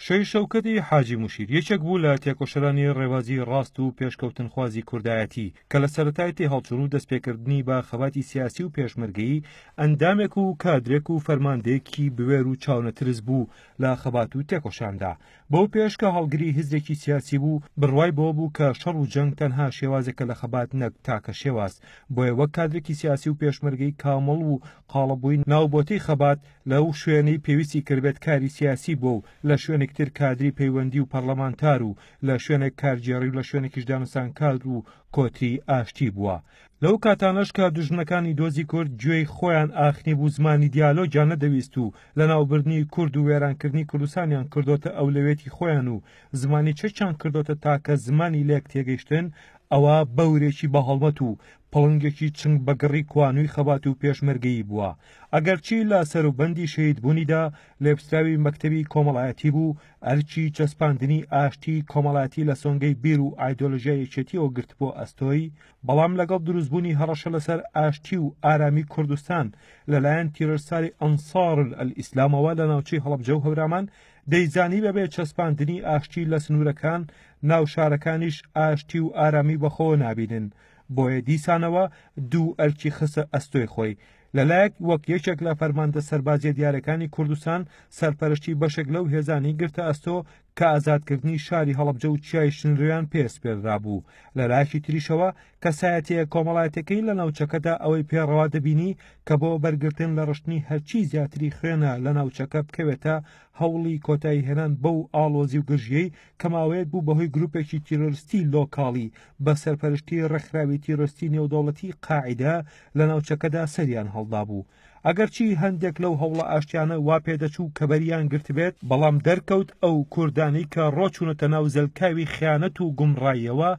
شەهید شەوکەتی حاجی مشیر یەکێک بوو لە تێکۆشەرانی ڕێبازی ڕاست و پێشکەوتنخوازی کوردایەتی کە لە سەرەتای تێهەڵچوون و دەستپێکردنی بە خەباتی سیاسی و پێشمەرگەیی ئەندامێک و کادرێک و فەرماندەیەکی بوێر و چاونەترس بوو لە خەبات و تێکۆشاندا بەو پێش کە هەڵگری هزرێکی سیاسی بوو بڕوای بەوە بوو کە شەڕ و جەنگ تەنها شێوازێکە لە خەبات نەک تاکە شێواز بۆیە وەک کادرێکی سیاسی و پێشمەرگەی کامەڵ و قاڵەبووی ناوبۆتەی خەبات لەو شوێنەی پێویستی کردبێت کاری سیاسی بووە و لە شوێنێک تر کادری پەیوەندی و پەڕڵەمانتار و لە شوێنێک کارگێڕی و لە شوێنێکیش دانوسانکار و کۆتری ئاشتی بووە. لەو کاتانەش کە دوژمنەکانی دۆزی کورد گوێی خۆیان ئاخنی بوو زمانی دیالۆگیان نەدەویست و لەناوبردنی کورد و وێرانکردنی کوردستانیان کردۆتە ئەولەوێتی خۆیان و زمانی چەکیان کردۆتە تاکە زمانی لێک تێگەیشتن ئەوا بەورێکی بەهەڵمەت و پڵنگێکی چنگ بەگڕی کوانووی خەبات و پێشمەرگەیی بووە ئەگەرچی لە سەروبەندی شەهیدبوونیدا لێپسراوی مەکتەبی کۆمەڵایەتی بوو، ئەرکی چەسپاندنی ئاشتی کۆمەڵایەتی لە سۆنگەی بیر و ئایدۆلۆژیا یەکێتیەوە گرتبووە ئەستۆی، بەڵام لەگەڵ دروستبوونی هەڕەشە لەسەر ئاشتی و ئارامی کوردستان لەلایەن تیرۆرستاری ئەنسارولئەلئیسلامەوە لە ناوچەی هەڵەبجە و هەورامان، دەیزانی بەبێ چەسپاندنی ئاشتی لە سنوورەکان، ناو شارەکانیش ئاشتی و ئارامی بەخۆوە نابینن. بۆیە دیسانەوە دوو ئەرکی خستە ئەستۆی خۆی، لەلایەک وەک یەکێک لە فەرماندە سەربازییە دیارەکانی کوردستان سەرپەرشتی بەشێک لەو هێزانەی گرتە ئەستۆ کە ئازادکردنی شاری هەڵەبجە و چیای شنرۆیان پێ سپێردرابوو، لەلایەکی تریشەوە کەسایەتییە کۆمەڵایەتیەکەی لە ناوچەکەدا ئەوەی پێ ڕەوا دەبینی کە بۆ بەرگرتن لە ڕشتنی هەرچی زیاتری خوێنە لە ناوچەکە بکەوێتە هەوڵی کۆتاییهێنان بەو ئاڵۆزی و گرژییەی کە ماوەیەک بوو بەهۆی گروپێکی تیرۆرستی لۆکاڵی بە سەرپەرشتی ڕێکخراوی تیرۆستی نێودەوڵەتی قاعدە لە ناوچەکەدا سەریان هەڵدا بوو ئەگەرچی هەندێک لەو هەوڵە ئاشتیانە وا پێدەچوو کە بەریان گرتبێت بەڵام دەرکەوت ئەو کوردانی کە ڕۆچوونەتە ناو زەلکاوی خیانەت و گومڕاییەوە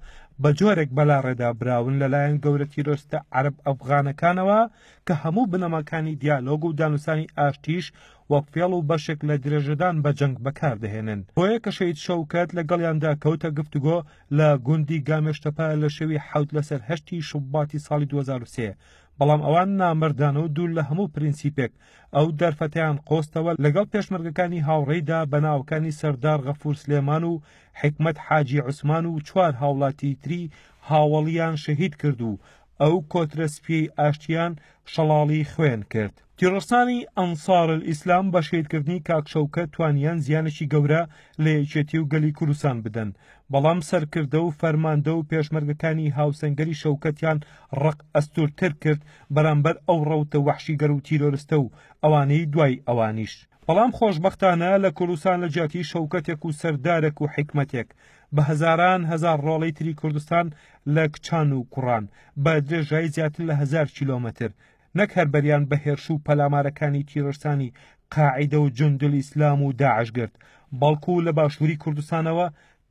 بە جۆرێک بەلاڕێدا براون لەلایەن گەورە تیرۆستە عەرب ئەفغانەکانەوە کە هەموو بنەماکانی دیالۆگ و دانوسانی ئاشتیش وەک فێڵ و بەشێک لە درێژەدان بە جەنگ بەکاردەهێنن بۆیە کە شەید شەوکەت لەگەڵیاندا کەوتە گفتوگۆ لە گوندی گامێشتەپە لە شەوی حەوت لەسەر هەشتی شوباتی ساڵی 2023 بەڵام ئەوان نامەردانە و دوور لە هەموو پرینسیپێک ئەو دەرفەتیان قۆستەوە لەگەڵ پێشمەرگەکانی هاوڕێیدا بە ناوەکانی سەردار غەفور سلێمان و حکمت حاجی عوسمان و چوار هاوڵاتی تری هاوەڵیان شەهید کرد و ئەو کۆترە سپیەی ئاشتیان شەڵاڵی خوێن کرد تیڕسانی ئەنسار ئیسلام بە شیدکردنی کاکشەوکە توانیان زیانێکی گەورە لە یەکێتی و گەلی کوردستان بدەن بەڵام سەرکردە و فەرماندە و پێشمەرگەکانی هاوسەنگەری شەوکەتیان ڕق ئەستورتر کرد بەرامبەر ئەو ڕەوتە وەحشیگەر و تیرۆرستە و ئەوانەی دوای ئەوانیش بەڵام خۆشبەختانە لە کوردستان لە جیاتی شەوکەتێک و سەردارێک و حکمەتێک بە هەزاران هەزار ڕۆڵەی تری کوردستان لە کچان و کوڕان بە درێژایی زیاتر لە هەزار کیلۆمەتر نەک هەر بەریان بە هێرش و پەلامارەکانی تیرۆرستانی قاعدە و جندل ئیسلام و داعش گرت بەڵکو لە باشووری کوردستانەوە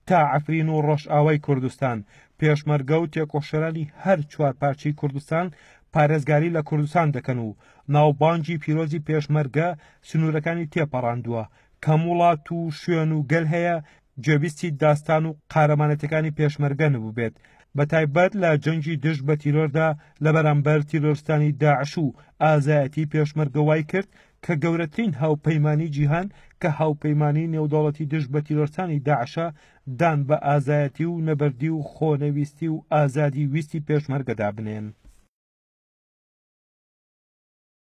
تا عفرین و ڕۆژئاوای کوردستان پێشمەرگە و تێکۆشەرانی هەر چوار پارچەی کوردستان پارێزگاری لە کوردستان دەکەن و ناوبانگی پیرۆزی پێشمەرگە سنوورەکانی تێپەڕاندووە کەم وڵات و شوێن و گەل هەیە گوێبیستی داستان و قارەمانەتەکانی پێشمەرگە نبووبێت بە تایبەت لە جەنگی دژ بە تیرۆردا لە بەرامبەر تیرۆرستانی داعش و ئازایەتی پێشمەرگە وای کرد کە گەورەترین هاوپەیمانی جیهان کە هاوپەیمانی نێودەوڵەتی دژ بە تیرۆرستانی داعشە دان بە ئازایەتی و نەبەردی و خۆنەویستی و ئازادی ویستی پێشمەرگەدا بنێن.